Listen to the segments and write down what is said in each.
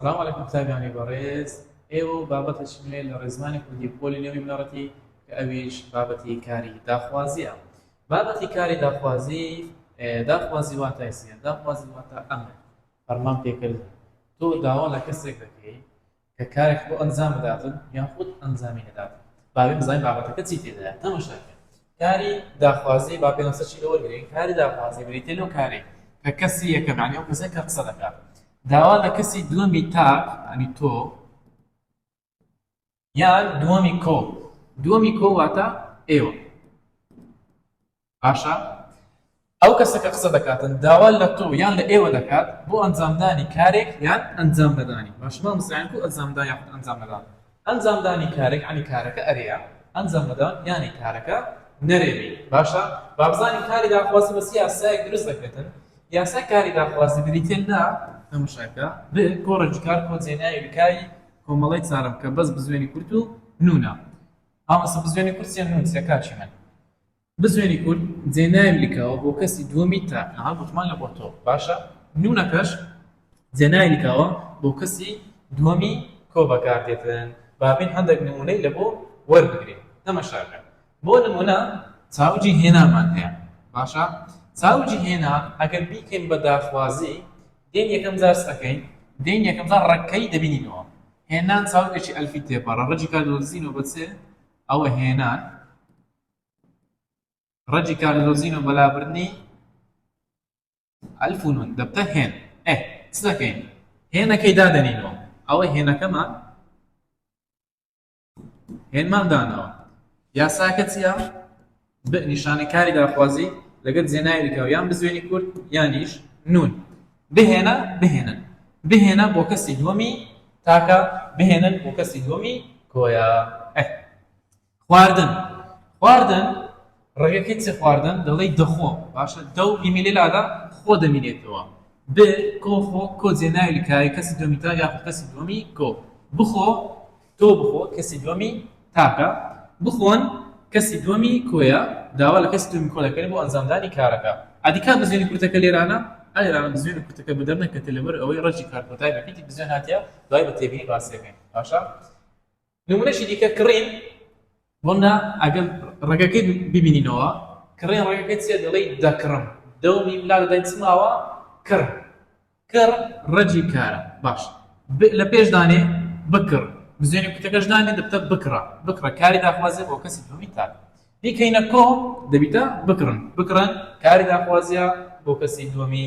سلام علیکم قوتابیانی بەڕێز ئێوە و بابەتێکی نوێ لە ڕێزمانی کوردی پۆلی نەوەی بنەڕەتی کە ئەویش بابەتی کاری داخوازییە بابەتی کاری داخوازی داخوازی واتای سیە داخوازی واتە ئەمە فەرمان پێکرد تۆ داوا لە کەسێک دەکەی کە کارێک بۆ ئەنجام بداتن یاخود ئەنجامی نەداتن باوێ بزانین بابەتەکە چی تێدایە تەمەشاکە کاری داخوازی با پێناسە چی لە وەرگرین کاری داخوازی بریتە لەو کارەی کە کەسی یەکەم یعنی ئەو کەسە کە قسە دەکات داوا لە کەسی دووەمی تاک یعنی تۆ یان دووەمی کۆ دووەمی کۆ واتە ئێوە باشە ئەو کەسە کە قسە دەکاتن داوا لە تۆ یان لە ئێوە دەکات بۆ ئەنجامدانی کارێک یان ئەنجام نەدانی باشە مامۆستا یان کو ئەنجامدان یاخود ئەنجام نەدان ئەنجامدانی کارێک یانی کارەکە ئەرێیە ئەنجام نەدان یانی کارەکە نەرێ بی باشە با بزانین کاری داخوازی بەس یاسایەک دروست دەکرێتن یاسای کاری داخوازی بریتیە لە تەمەشاکە ب کۆڕێکی کار کۆ جێناوی بکاری کۆمەڵی چارم کە بەس بزوێنی کورت و نونا مامۆستا بزوێنی کورت چیە نون چیە کاکی من بزوێنی کورد جێ ناوی لکاوە بۆ کەسی دووەمی تاک. ئەها گوتمانە بۆ تۆ باشە نوونەکەش جێ ناوی لکاوە بۆ کەسی دووەمی کۆ بەکار دێتن با بێن هەندەک نموونەی لە بۆ وەربگرین تەمەشاکە بۆ نموونە چاوجی هێنامان هەیە باشە چاوجی هێنا ئەگەر بیکەین بە داخوازی دێن یەکەم جار سەکەین دێن یەکەم جار ڕەکەی دەبینینەوە هێنان چاوگەکی ئەلفی تێپەڕە ڕەجی کار دۆزینەوە بە چێ ئەوە هێنان ڕەدیکالیزۆزین و بەلابردنی ئەلف و نون دەبتە هێن ئێ چ دەکەین هێنەکەی دادەنینەوە ئەوەی هێنەکەمان هێنمان دانەوە یاساکە چیە نیشانەی کاری داخوازی لەگەر جێناویکە و یان بزوێنی کورد یانیش نون بهێنە بهێنن بهێنە بۆ کەسی دووەمی تاکە بهێنن بۆ کەسی دووەمی کۆیە خواردن خواردن ڕێگەکەی چ خواردن دەڵێی دەخۆ باشە دەو ئیمیلی لادا خۆ دەمینێتەوە ب کۆ خۆ کۆ جێناوی لکاوی کەسی دومی تا یاخود کەسی دومی کۆ بخۆ تۆ بخۆ کەسی دومی تاکە بخۆن کەسی دومی کۆیە داوا لە کەسی دومی کۆ دەکەن بۆ ئەنجامدانی کارەکە ئەدیکا بزوێنی کورتەکە لێرانە ئەلێرانە بزوێنی کورتەکە بدەر نەکەتێ لەبەر ئەوەی ڕەجی کارکۆتای بەپیتی بزوێن هاتیە دوای بە تێبینی باسیەکەین باشە نمونەشی دیکە کڕین وەنا ئەگەر ڕێگەکەی ببینینەوە کڕێن ڕێگەکە چێ دەڵی دەکڕم دەومی ملا دەدەین چماوە کڕ کڕ ڕەجی کارە باش لە پێش دانێ بکڕ بزێنی کوتەکەش دانێ دەبتە بکڕە بکڕە کاری داخوازێ بۆ کەسی دومی تاک دیکەینە کۆ دەبیتە بکڕن بکڕن کاری داخوازە بۆ کەسی دومی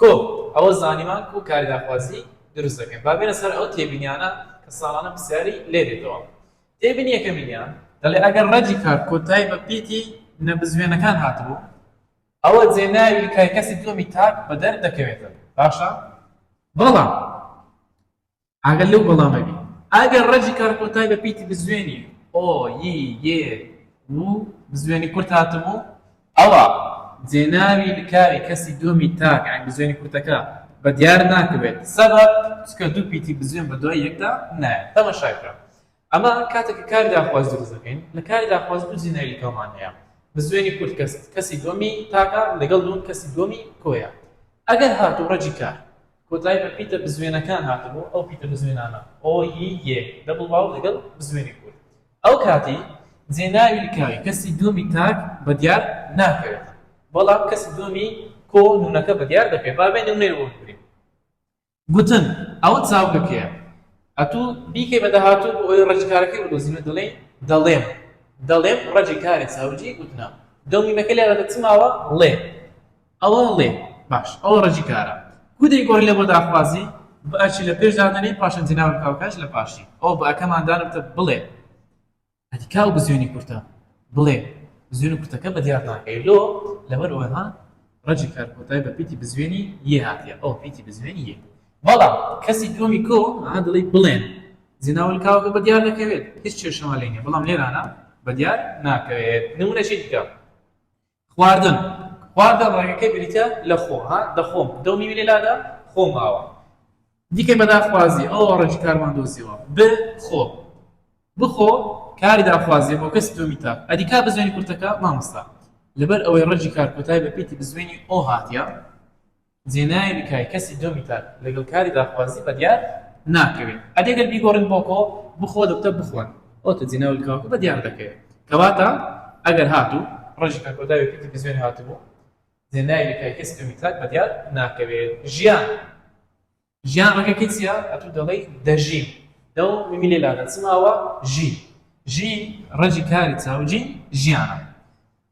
کۆم ئەوە زانیمان کو کاری داخوازی دروست دەکەین با بێنە سەر ئەو تێبینیانە کە ساڵانە پرسیاری لێ دێتەوە تێبینی یەکەمینیان دەڵێ ئەگەر ڕەجی کار کۆتایی بە پیتی نەبزوێنەکان هاتبوو ئەوە جێناوی کای کەسی دووەمی تاک بەدەر دەکەوێتەوە باشە بەڵام ئاگات لەو وەڵامە بی. ئەگەر ڕەجی کارکۆتای بە پیتی بزوێنی، ئۆ، ی، یێ، و، بزوێنی کورت هاتبوو، ئەوا جێناوی لکاوی کەسی دووەمی تاک، یانی بزوێنی کورتەکە، بە دیار ناکەوێت. سەبەب، چونکە دوو پیتی بزوێن بە دوای یەکدا نایەن. تەماشا بکە. ئەمە کاتێک کە کاری داخواز دروست دەکەین. لە کاری داخواز دوو جێناوی لکاومان هەیە. بزوێنی کورت کەسی دووەمی تاکە لەگەڵ نوون کەسی دووەمی کۆیە. ئەگەر هاتوو ڕەجی کار. کۆتایی بە پیتە بزوێنەکان هاتبوو، ئەو پیتە بزوێنانە، ئۆ، ی، یێ، دەبڵ واو لەگەڵ بزوێنی کورت. ئەو کاتی جێناوی لکاوی کەسی دووەمی تاک بە دیار ناکەوێت، بەڵام کەسی دووەمی کۆ نوونەکە بە دیار دەکەوێت. با بێ نموونەی ئۆ بگرین. گوتن، ئەوە چاوگەکەیە. ئەتوو بیکەی بە داهاتوو بۆ ئەوەی ڕەجی کارەکەی بدۆزین و دەڵێین، دەڵێم، دەڵێم ڕەجی کارێ چاوگی گوتنە. دەو میمەکەی لێ دەدە چ ماوە؟ ڵێ. ئەوە ڵێ باش ئەوە ڕەجی کارە کو دەی گۆڕی لە بۆ داخوازی بئ چی لە پێش دادەنێی پاشان جناوت بکا و کاش لە پاشی ئەوە بئ کەمان دانرتە بڵێ ئەدی کا و بزوێنی کورتە بڵێ بزوێن و کورتەکە بە دیار ناکەی لۆ لەبەر ئەوە ها ڕەجی کار کۆتای بە پیتی بزوێنی یێ هاتیە ئەوە پیتی بزوێنی یێ بەڵام کەسی دووەمی کۆ ها دڵی بڵێن جناول کاوەکە بە دیار دەکەوێت هیچ کێشەمان لێ نیە بەڵام لێرانە بە دیار ناکەوێت نمونەشی دیکە خواردن خواردن ڕەگەکەی بریتیە لە خۆ ها دەخۆم دە و میمی لێ لادا خۆ ماوە دیکەی بە داخوازی ئەوە ڕێکی کارمان دۆزیەوە ب خۆ بخۆ کاری داخوازی بۆ کەسی دووەمی تا ئەدی کا بزوێنی کورتەکە مامۆستا لەبەر ئەوەی ڕەجی کار کۆتای بە پێتی بزوێنی ئۆ هاتیە زینای بیکای کەسی دووەمی تاک لەگەڵ کاری داخوازی بەدیار ناکەوێت ئەدی گەر بیگۆڕین بۆ کۆ بخۆ دەوتە بخۆن ئەوتە زینا و لکاکو بەدیار دەکەوێت کەواتە ئەگەر هاتوو ڕۆژێکا کۆداوێکی تلفزیۆن هاتبوو زینای بیکای کەسی دووەمی تاک بەدیار ناکەوێت ژیان. ژیان ڕەگەکەی چیە ئەتوو دەڵێی دەژیم دەو میمی لێ لا دەچم ئەوە ژی ژی ڕەجی کاری چاو جی ژیانە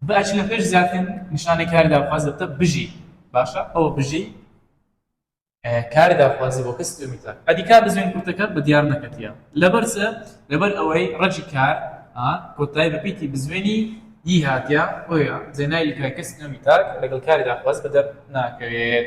بە ئەچی لە پێش زیاتر نیشانەی کاری داخواز دەبتە بژی باشە ئەوە بژی کاری داخوازی بۆ کەسی دومی تاک ئەدی کار بزوێن کورتەکە بە دیار نەکەتیە لەبەر چ لەبەر ئەوەی ڕەجی کار کۆتای بە پیتی بزوێنی ی هاتیە بۆیە زێنای لکای کەسی دومی تاک لەگەڵ کاری داخواز بەدەر ناکەوێت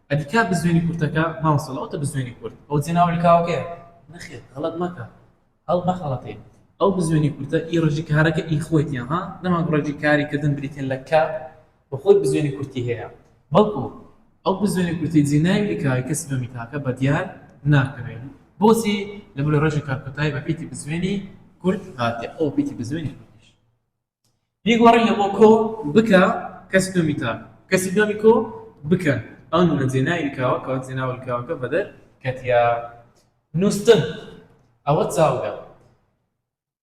ئەدی کاک بزوێنی کورتەکە مامۆستا لەوەتە بزوێنی کورت ئەو جەناوەی کاوەکەیە نەخێر غەڵەت مەکە هەڵمەخەڵەتێ ئەو بزوێنی کورتە ئی ڕەجی کارەکە ئی خۆیتیە ها نەماکو ڕەجی کاری کردن بریتین لە کە و خۆی بزوێنی کورتی هەیە بەڵکو ئەو بزوێنی کورتی جی ناوی کاوی کەسی بە میتاکە بە دیار ناکەوێ بۆچی لەبەر ڕەجی کارکۆتایی بە پیتی بزوێنی کورت هاتێ ئەو پیتی بزوێنی کورتیش بیگۆڕین لە مۆکۆ بکە کەسی دووەمی تا کەسی دووەمی کۆ بکە ئەو نونە جێنای لکاوە کەوە جێناوە لکاوەکە بەدەر کەتیا نووستن ئەوە چاوگە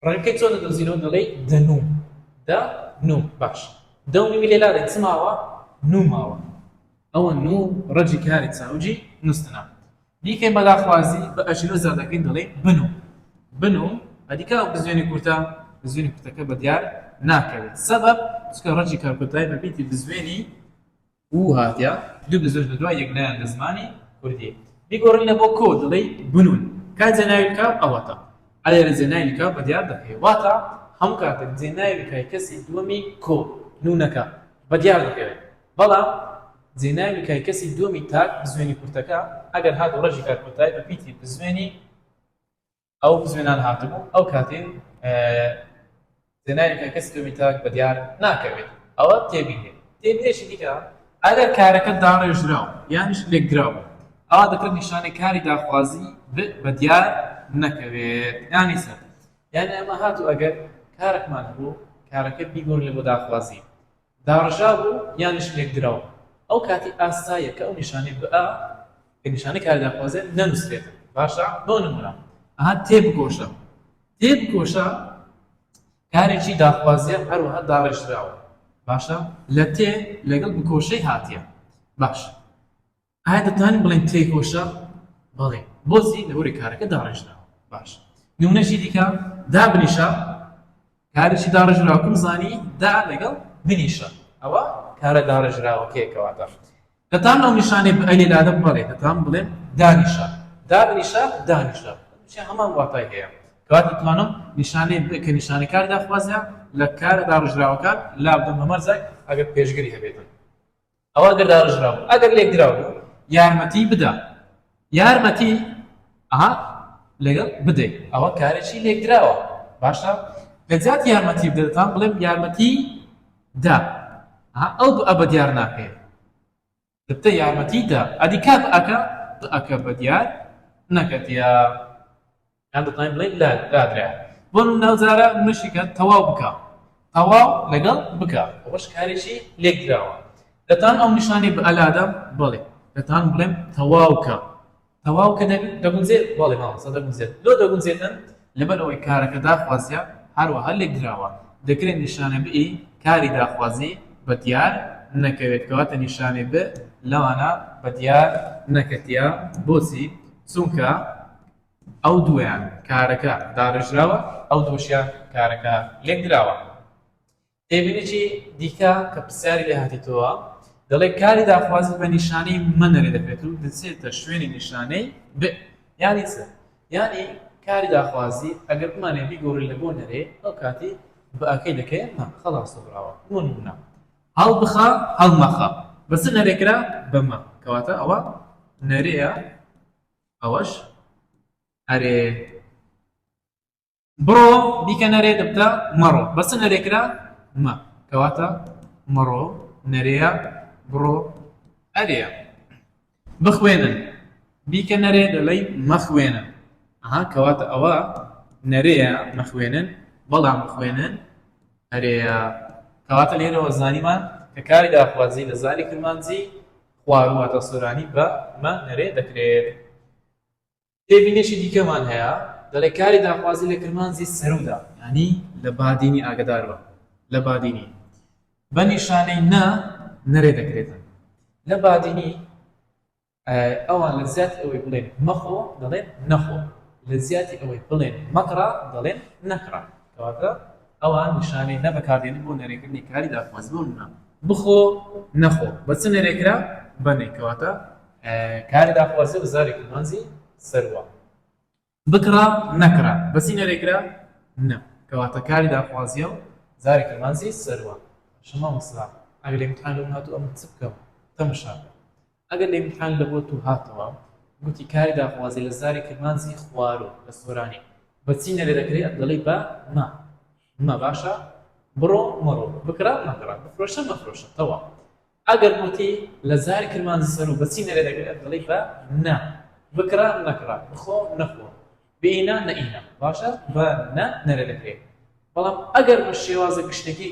ڕەنگەکەی چۆن دەدۆزینەوە دەڵێی دەنو دە نو باش دەونی ویلێ لارێ چماوە نوماوە ئەوە نو ڕەجی کاری چاوجی نووستنە دیکەی مەلا خوازی بە ئەژنۆ زادەکەی دەڵێ بنو بنو ئەدیکا ئەو بزوێنی کورتە بزوێنی کورتەکە بە دیار ناکەوێت سەبەب چونکە ڕەجی کارکۆتای بە بیتی بزوێنی و هاتیە دوو بزوێن بە دوای یەک نایەن لە زمانی کوردی بیگۆڕن لە بۆ کۆ دەڵێی بنون کا جێناوی کا ئەوەتا ئەلێ لە جێناوی کا بە دیار دەکەی واتە هەموو کاتێک جێناوی کای کەسی دووەمی کۆ نونەکە بە دیار دەکەوێت بەڵام زینای میکای کەسی دووەمی تاک بزوێنی کورتەکە ئەگەر هات و ڕەشی کات کۆتای بە پیتی بزوێنی ئەو بزوێنان هاتبوو ئەو کاتێ زینای میکای کەسی دووەمی تاک بە دیار ناکەوێت ئەوە تێبینێ تێبینێکی دیکە ئەگەر کارەکە داڕێژراو یانیش لێکدراو ئەوا دەکرێت نیشانەی کاری داخوازی بە دیار نەکەوێت یانی سەر یانی ئەمە هاتوو ئەگەر کارەکمان بوو کارەکە بیگۆڕێ بۆ داخوازی داڕژابوو یانیش لێکدراو ئەو کاتی ئاساییە کە ئەو نیشانەی بئ کە نیشانەی کاری داخوازیە نەنوسرێت باشە بۆ نمونە ئەها تێبکۆشە تێبکۆشە کارێکی داخوازیە هەروەها داڕێژراوە باشە لە تێ لەگەڵ بکۆشەی هاتیە باشە ئایا دەتوانین بڵێین تێی هۆشە؟ بەڵێ، هۆزی لە هۆرێ کارەکە داڕێژراوە. باش نمونەشی دیکە دا بنیشە کارێکی داڕێژراوکم زانی دا لەگەڵ بنیشە ئەوە کارە داڕێژراوەکەیەکەواتە دەتان ئەو نیشانێ بەلی لادە بڵێ دەتان بڵێن دانیشە دا بنیشە دانیشە هەمان واتای هەیە کات دەتوانم نیشانەی کە نیشانەی کار داخوازە لە کارە داڕژراوەکان لابدەم هەمەرزای ئەگەر پێشگری هەبێتن ئەوا ئەگەر داڕێژراوبوو ئەگەر لێکدراوبوو یارمەتی بدا یارمەتی ئەها لەگەڵ بدەیت ئەوە کارێکی لێکدراوە باشە لەجات یارمەتی بدەتان بڵێم یارمەتی دا ئەو ئەبە دیار ناکەێت دەتە یارمەتی دا ئەدی کات ئەکە ئەکە بە دیار نەکەتە یان دەتوانین بڵێین لادرایە. بۆ نموونە ئەو جارە منشی کە تەواو بکە. تەواو لەگەڵ بکە. ئەوەش کارێکی لێکدراوە. دەتوانم ئەو نیشانەی بە لادا؟ بەڵێ. دەتوانم بڵێم تەواو کە. تەواو کە دەگونجێت؟ بەڵێ مامۆستا دەگونجێت. لۆ دەگونجێتن؟ لەبەر ئەوەی کارەکە داخوازییە، هەروەها لێکدراوە. دەکرێت نیشانە بئ کاری داخوازی بە دیار نەکەوێت. کەواتە نیشانەی بئ لەوانە بە دیار نەکەتییە. بۆچی؟ چونکە. ئەو دوویان کارەکە داڕێژراوە ئەو دووەشیان کارەکە لێکدراوە. تێبینیی دیکە کە پرسیاری لێ هاتیتەوە دەڵێ کاری داخوازی بە نیشانەی مە نەرێ دەکرێت و دەچێتە شوێنی نیشانەی ب یانی چ؟ یانی کاری داخوازی ئەگەر بمانەوێ بیگۆڕین لە بۆ نەرێ ئەو کاتی بەکەی دەکەین مە خەڵاس سەبراوە بۆ نموونە هەڵبخە هەڵمەخە بە چ نەرێ کرا؟ بە مە کەواتە ئەوە نەرێیە ئەوەش ئەرێ بڕۆ بیکە نەرێ دەبتە مەڕۆ بەسە نەرێ کرا مە کەواتە مەڕۆ نەرێە بڕۆ ئەرێ بخوێنن بیکە نەرێ دەڵی مەخوێنە ئەها کەواتە ئەوە نەرێە مەخوێنن بەڵام بخوێنن ئەرێە کەواتە لێرەوە زانیمان کە کاری داخوازی لە زاری کرمانجی خوارو هەتا سۆرانی بە مە نرێ دەکرێت. تێبینێکی دیکەمان هەیە دەڵێ کاری داخوازی لە کرمانجی سەرودا یانی لە بادینی ئاگەداربە لە بادینی بە نیشانەی نە نرێ دەکرێتە لە بادینی ئەوان لە زیاتی ئەوەی بڵێن مەخۆ دەڵێن نەخۆ لە زیاتی ئەوەی بڵێن مەکڕە دەڵێن نەکڕە کەواتە ئەوان نیشانەی نە بەکاردێنن بۆ نەرێکردنی کاری دادخوازی بۆ نمونە بخۆ نەخۆ بە چ نەرێکرا بە نەی کەواتە کاری داخوازی بە زاری کورمانجی سەروە بکڕا نەکرا بە چی نەرێکرا نە کەواتە کاری داخوازیە و زاری کورمانجی سەروە شما مصرا ئەگەر امتحان لەم هاتو ئەمن چ بکەم تەمشا ئەگەر لە میحان لە بۆ تو هاتەوە گوتی کاری داخوازی لە زاری کرمانجی خوارو لە سۆرانی بە چی نەبێ دەکرێ ئەت دەڵی بە مە مە باشە بڕۆ مەڕۆ بکڕە مەکڕە بفرۆشە مەفرۆشە تەواو ئەگەر گوتی لە زاری کرمانجی سەرو بە چی نەبێ دەکرێ ئەت دەڵی بە نە بکڕە نەکڕە بخۆ نەخۆ بینە نەینە باشە بە نە نەرێ دەکرێ بەڵام ئەگەر بە شێوازە گشتەکی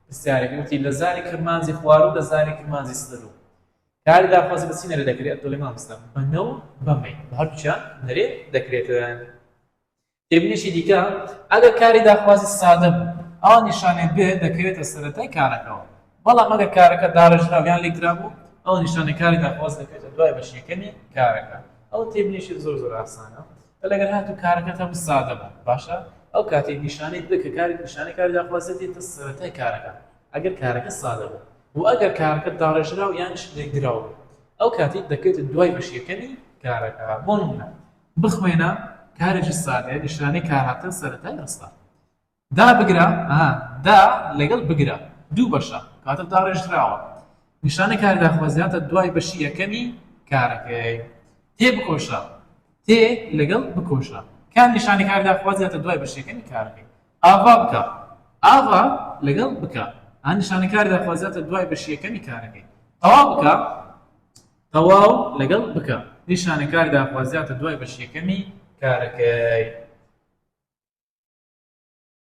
پرسیارێک گوتی لە زاری کرمانجی خوارو لە زاری کرمانجی سەرو کاری داخوازی بە چی نەرێ دەکرێت؟ دەڵێ مامۆستا بە نە و بە مەی بە هەردووکیان نەرێ دەکرێتن. تێبینیشی دیکە ئەگەر کاری داخوازی سادە بوو ئەوا نیشانێک بێ دەکەوێتە سەرەتای کارەکەەوە بەڵام ئەگەر کارەکە داڕێژراو یان لێکدرابوو ئەو نیشانەی کاری داخواز دەکەوێتە دوای بەشی یەکەمی کارەکە ئەو تێبینیشی زۆر زۆر ئاسانە لەگەر هاتوو کارەکەت هەم سادە بوو باشە ئەو کاتێک نیشانەی بکە کاری نیشانەی کاری داخوازێتی تە سەرەتای کارەکە ئەگەر کارەکە سادە بوو و ئەگەر کارەکە داڕێژراو یان شلێکدراو بوو ئەو کاتەی دەکەوێتە دوای بەشی یەکەمی کارەکە بۆ نمونە بخوێنە کارێکی سادەیە نیشانەی کار هاتن سەرەتای ڕستە دابگرە ئەها دا لەگەڵ بگرە دوو بەشە کاتە داڕێژراوە نیشانەی کار داخوازیاتە دوای بەشی یەکەمی کارەکەی تێبکۆشە تێ لەگەڵ بکۆشە کام نیشانەی کار داخوازی هاتە دوای بەشێکەنی کارەکەی ئاڤا بکە ئاڤا لەگەڵ بکە ئەم نیشانەی کار داخوازی هاتە دوای بەشیەکەمی کارەکەی تەواو بکە تەواو لەگەڵ بکە نیشانەی کار داخوازی هاتە دوای بەشیەکەمی کارەکەی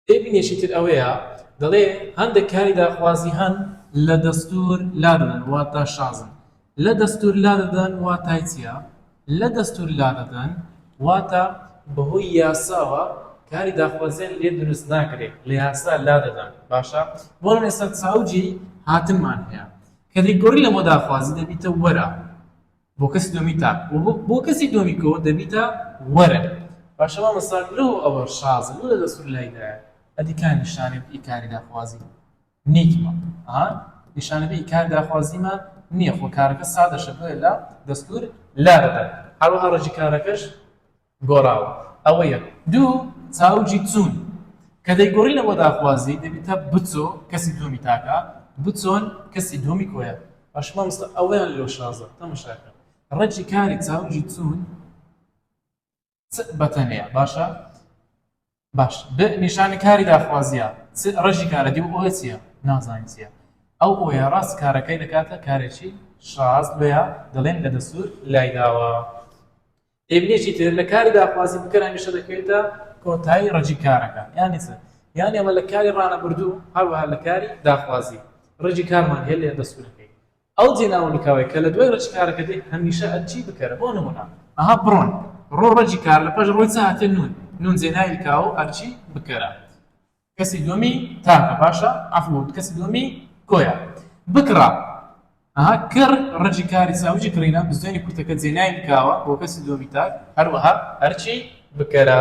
تێبینێکی تر ئەوەیە دەڵێ هەندێک کاری داخوازی هەن لە دەستور لادەدەن واتا شازن لە دەستور لادەدەن واتای چیە لە دەستور لادەدەن واتا بەهۆی یاساوە کاری داخوازیان لێ دروست ناکرێ لە یاسا لادەدەن باشە بۆ ئێستا ساوجی هاتنمان هەیە کە دەیگۆری لەمە داخوازی دەبیتە وەرە بۆ کەسی دووەمی تاک و بۆ کەسی دووەمی کۆ دەبیتە وەرە باشە مامۆستا لۆ ئەوە شازە لۆ لە دەستور لای دایە ئەدی کا نیشانەی ئی کاری داخوازی نیتمە ها نیشانەی ئی کار داخوازیمە نیە خۆ کارەکە سادەشە بۆیە لە دەستور لارەدایە هەروەها ڕەجی کارەکەش گۆڕاوە ئەوە یەک دوو چاو جی چوون کە دەیگۆڕینە بۆ داخوازی دەبیتە بچۆ کەسی دوومی تاکە بچۆن کەسی دوومی کۆیە باش مامۆستا ئەوەیان لۆ شازە تەمەشا کە ڕەجی کاری چاو جی چوون چ بەتەنێە باشە باش ب نیشانی کاری داخوازیە چ ڕەشی کارە دی و ئۆیە چیە نازانی چیە ئەو ئۆیە ڕاست کارەکەی دەکاتە کارێکی شاز بۆیە دەڵێن لە دەستور لای داوە ئێ بنێکی تر لە کاری داخوازی بکەر هەمیشە دەکەوێتە کۆتایی ڕەجی کارەکە یانی چ یانی ئەمە لە کاری ڕانەبردوو هەروەها لە کاری داخوازی ڕەجی کارمان هەیە لە دەستورەکەی ئەو جێناو و نکاوەی کە لە دوای ڕەجی کارەکە دێ هەمیشە ئەرکی بکەرە، بۆ نموونە. ئەها بڕۆن، ڕۆ ڕەجی کار، لە پاش ڕۆی چ هاتێ نوون، نوون جێناوی نکاو و ئەرکی بکەرە. کەسی دووەمی تاکە، باشە، عەفو بۆ من، کەسی دووەمی کۆیە. بکڕە، ئەها کڕ، ڕەجی کاری ساوجی کڕینە، بزوێنی کورتەکە جێناوی نکاوە بۆ کەسی دووەمی تاک، هەروەها ئەرکی بکەرە.